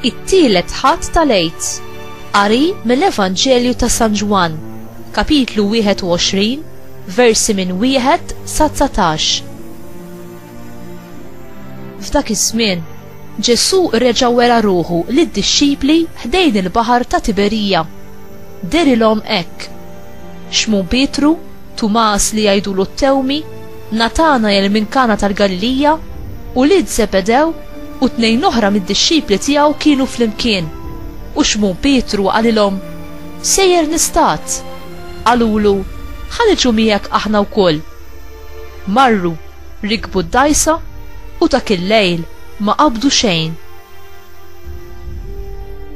It-tielet ħadd tal-Għid. Qari mill-Evanġelju ta' San Ġwann, kapitlu 21, versi minn wieħed sa 19. F'dak iż-żmien, Ġesù reġa' wera ruħu lid-dixxipli ħdejn il-baħar ta' Tiberija. Derilhom hekk, Xmun Pietru, Tumas li jgħidulu t-Tewmi, Natanajel minn Kana tal-Galilija, ulied Żebedew u tnejn oħra mid-dixxipli tiegħu kienu flimkien. U Xmun Pietru qalilhom, Sejjer nistad! Qalulu, Ħa niġu miegħek aħna wkoll. Marru. Rikbu d-dgħajsa u dak il-lejl ma qabdu xejn.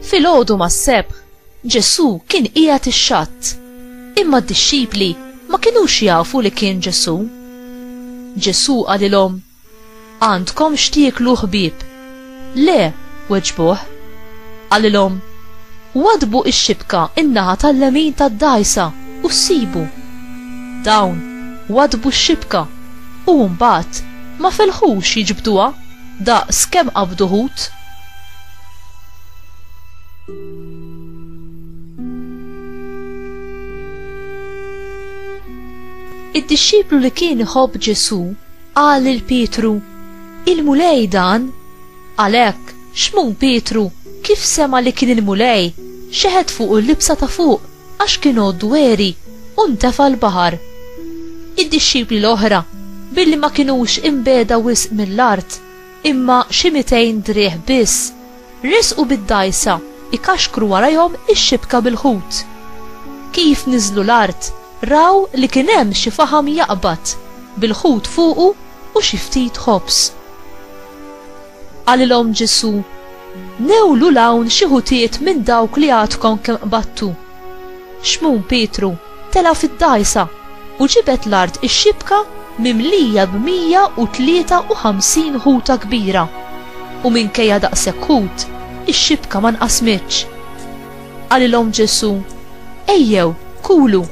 Filgħodu mas-Sebħ, Ġesù kien qiegħed ix-xatt, imma d-dixxipli ma kinux jafu li kien Ġesù. Ġesù qalilhom, Għandkom x'tieklu ħbieb? Le, weġbuh. Qalilhom, Waddbu x-xibka n-naħa tal-lemin tad-dgħajsa u ssibu. Dawn waddbu x-xibka u mbagħad ma felħux jiġbduha daqs kemm qabdu ħut. Id-dixxiplu li kien iħobb Ġesù Qal lil Pietru, Il-Mulej dan? Għalhekk, Xmun Pietru, kif sema' li kien il-Mulej, xeħet fuqu l-libsa ta' fuq, għax kien għodd dweri, u ntefa' l-baħar. Id-dixxipli l-oħra, billi ma kinux inbegħda wisq mill-art, imma xi mitejn driegħ biss, resqu bid-dgħajsa jkaxkru warajhom ix-xibka bil-ħut. Kif niżlu l-art, raw li kien hemm xi faħam jaqbad, bil-ħut fuqu u xi ftit ħobż. Qalilhom Ġesù, Newlu 'l hawn xi ħutiet minn dawk li għadkom kemm qbadtu. Xmun Pietru Telgħa fid-dgħajsa, u ġibed l-art ix-xibka mimlija b'mija u tlieta u ħamsin ħuta kbira, u minkejja daqshekk ħut, ix-xibka ma nqasmitx. Qalilhom Ġesù, Ejjew, kulu.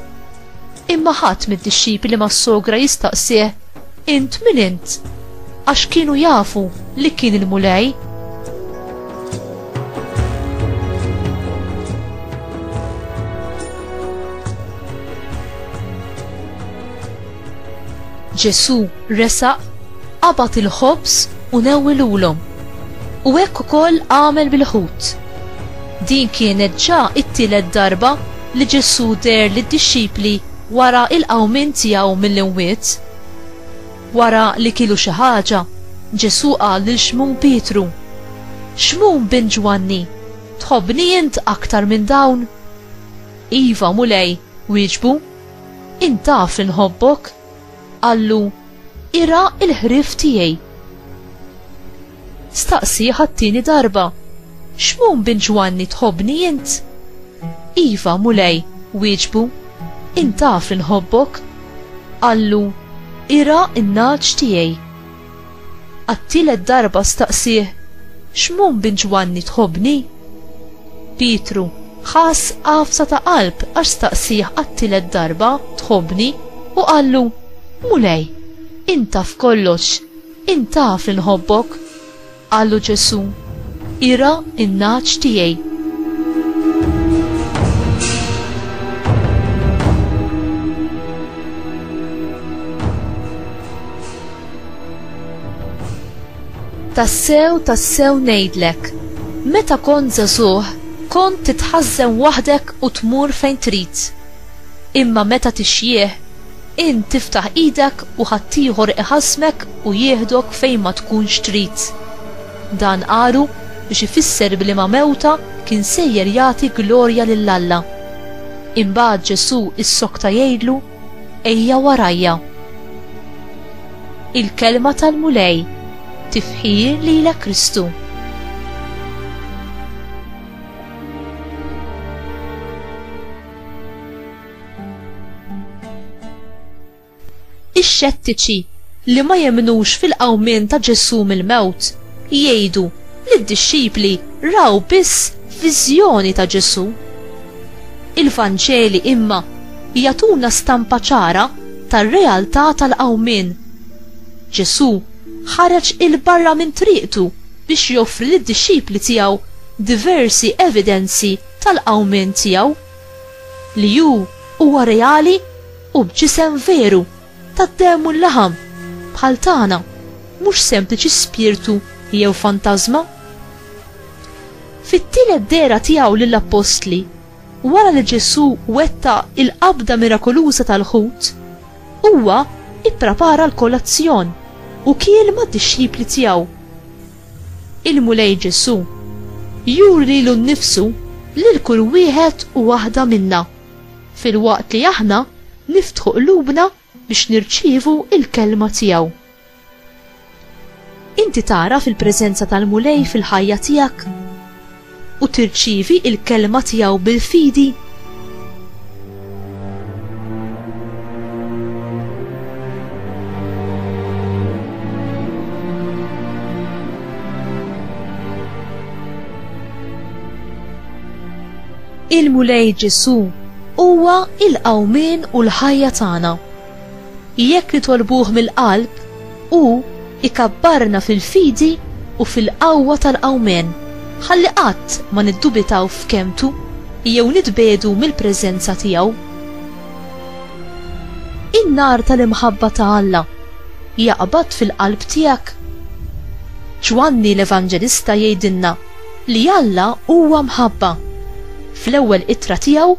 Imma ħadd mid-dixxipli mas-sogra jistaqsih, Int min int? Għax kienu jafu li kien il-Mulej. Ġesù resaq, qabad il-ħobż u newwilulhom. U hekk ukoll għamel bil-ħut. Din kienet ġa it-tielet darba li Ġesù deher lid-dixxipli Wara l-qawmien tiegħu mill-imwiet, wara li kielu xi ħaġa, Ġesù qal lil Xmun Pietru, Xmun bin Ġwanni, tħobbni int aktar minn dawn? Iva, Mulej, wieġbu, int taf li nħobbok. Qallu, Irgħa l-ħrief tiegħi. Staqsih għat-tieni darba, Xmun bin Ġwanni tħobbni int? Iva, Mulej, wieġbu, int taf li nħobbok. Qallu, Irgħa n-nagħaġ tiegħi. Għat-tielet darba staqsih, Xmun bin Ġwanni tħobbni? Pietru ħass għafsa ta' qalb għax staqsih għat-tielet darba tħobbni u qallu, Mulej, int taf kollox, Int taf li nħobbok, qallu Ġesù, irgħa n-nagħaġ tiegħi. Tassew, tassew ngħidlek, meta kont żagħżugħ kont titħażżen waħdek u tmur fejn trid. Imma meta tixjieħ Int tiftaħ idek u ħaddieħor iħassmek u jieħdok fejn ma tkunx trid. Dan qalu biex ifisser b'liema mewta kien sejjer jagħti glorja lil Alla. Imbagħad Ġesù issokta jgħidlu, Ejja warajja. Il-Kelma tal-Mulej, Tifħir lilek Kristu. Ix-xettiċi li ma jemnux fil-qawmien ta' Ġesù mill-mewt jgħidu li d-dixxipli raw biss viżjoni ta' Ġesù. Il-Vanġeli imma jagħtuna stampa ċara tar-realtà tal-qawmien. Ġesù ħareġ 'il barra minn triqtu biex joffri lid-dixxipli tiegħu diversi evidenzi tal-qawmien tiegħu. li hu huwa reali u b'ġisem veru tad-demm u l-laħam, bħal tagħna, mhux sempliċi spirtu jew fantażma. Fit-tielet dehra tiegħu lill-appostli, wara li Ġesù wettaq il-qabda mirakoluża tal-ħut, huwa pprepara l-kolazzjon u kiel mad-dixxipli tiegħu. Il-Mulej Ġesù juri lilu nnifsu lil kull wieħed u waħda minna, filwaqt li aħna niftħu qlubna biex nirċievu l-Kelma tiegħu. Inti tagħraf il-preżenza tal-Mulej fil-ħajja tiegħek? u tirċievi l-kelma tiegħu bil-fidi? Il-Mulej Ġesù huwa l-qawmien u l-ħajja tagħna. Jekk nitolbuh mill-qalb, hu ikabbarna fil-fidi u fil-qawwa tal-Qawmien, ħalli qatt ma niddubitaw f'kelmtu jew nitbiegħdu mill-preżenza tiegħu. In-nar tal-imħabba ta' Alla jaqbad fil-qalb tiegħek? Ġwanni l-Evanġelista jgħidilna li Alla huwa mħabba. Fl-ewwel ittra tiegħu,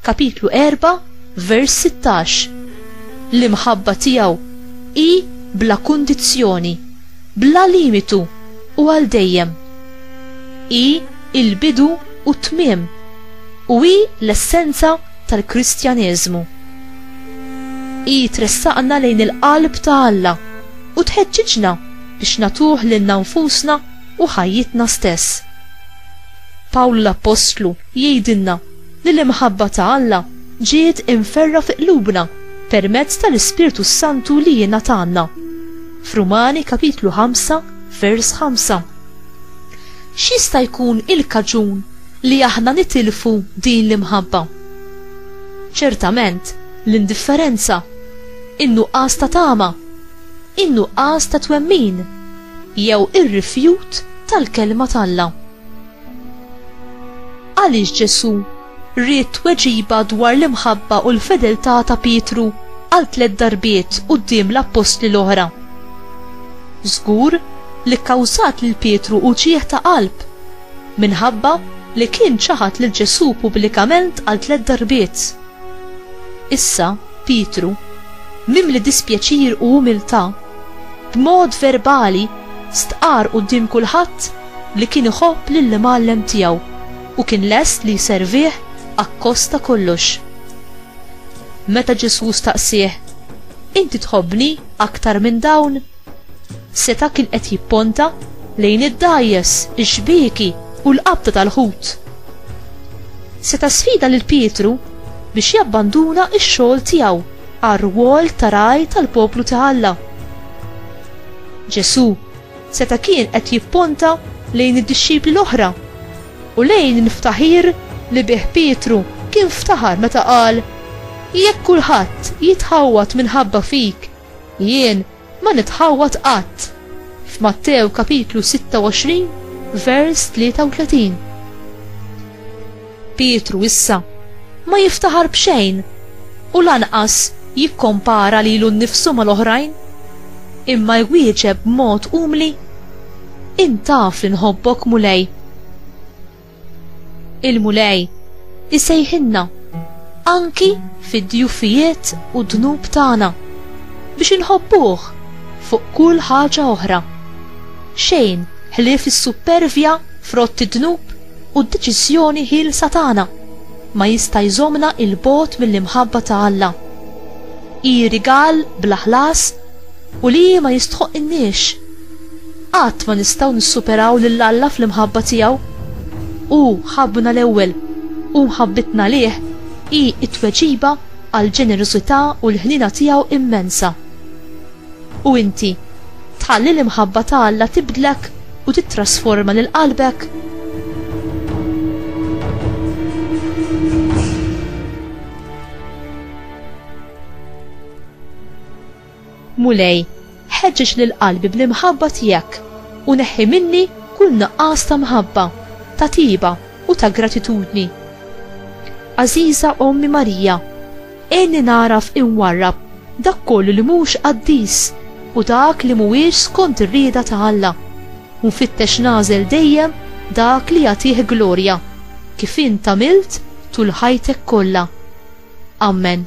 kapitlu erbgħa, Vers 16 L-imħabba tiegħu hi bla kundizzjoni, bla limitu u għal dejjem. Hi l-bidu u t-tmiem u hi l-essenza tal-Kristjaneżmu. Hi tressaqna lejn il-qalb ta' Alla u tħeġġiġna biex nagħtuh lilna nfusna u ħajjitna stess. Pawlu l-appostlu jgħidilna li l-imħabba ta' Alla ġiet imferrgħa fi qlubna permezz tal-Ispirtu s-Santu li jingħatalna. F'Rumani kapitlu 5 vers 5. X'jista' jkun il-kaġun li aħna nitilfu din l-imħabba? Ċertament, l-indifferenza, in-nuqqas ta' tama, in-nuqqas ta' twemmin, jew ir-rifjut tal-Kelma t'Alla. Għaliex Ġesù ried tweġiba dwar l-imħabba u l-fedeltà ta' Pietru għal tliet darbiet quddiem l-appostli l-oħra? Żgur li kkawżat lil Pietru uġigħ ta' qalb minħabba li kien ċaħad lil Ġesù pubblikament għal tliet darbiet. Issa, Pietru, mimli dispjaċir u umiltà, b'mod verbali stqarr quddiem kulħadd li kien iħobb lill-Imgħallem tiegħu u kien lest li jservih akkost ta' kollox. Meta Ġesù staqsieh, Inti tħobbni aktar minn dawn? Seta' kien qed jipponta lejn id-dgħajjes, ix-xbieki u l-qabda tal-ħut. Seta' sfida lil Pietru biex jabbanduna x-xogħol tiegħu għar-rwol ta' ragħaj tal-poplu ta' Alla. Ġesù, Seta' kien qed jipponta lejn id-dixxipli l-oħra u lejn il-ftaħir li bih Pietru kien ftaħar meta qal, Jekk kulħadd jitħawwad minħabba fik, jien ma nitħawwad qatt. F'Mattew kapitlu 26 vers 33. Pietru issa ma jiftaħar b'xejn u lanqas jikkompara lilu nnifsu mal-oħrajn, imma jwieġeb b'mod umli, Int taf li nħobbok, Mulej. Il-Mulej isejħilna anki fid-djufijiet u d-dnub tagħna biex inħobbuh fuq kull ħaġa oħra. Xejn ħlief is-suppervja frott id-dnub u d-deċiżjoni ħielsa tagħna ma jista' jżommna 'il bogħod mill-imħabba ta' Alla. Hi rigal bla ħlas u li hi ma jistħoqqilniex. Qatt ma nistgħu nissuperaw lil Alla fl-imħabba tiegħu. Hu ħabbna l-ewwel, u mħabbitna għalih hi t-tweġiba għall-ġenerożità u l-ħniena tiegħu immensa. U inti, tħalli l-imħabba ta' Alla tibdlek u tittrasforma lil qalbek? Mulej, ħeġġeġ lil qalbi bl-imħabba tiegħek u neħħi minni kull nuqqas ta' mħabba, ta' tjieba u ta' gratitudni. Għażiża Ommi Marija, Għinni nagħraf inwarrab dak kollu li mhux qaddis u dak li mhuwiex skont ir-rieda ta' Alla, u nfittex nagħżel dejjem dak li jagħtih glorja, kif int għamilt tul ħajtek kollha. Ammen.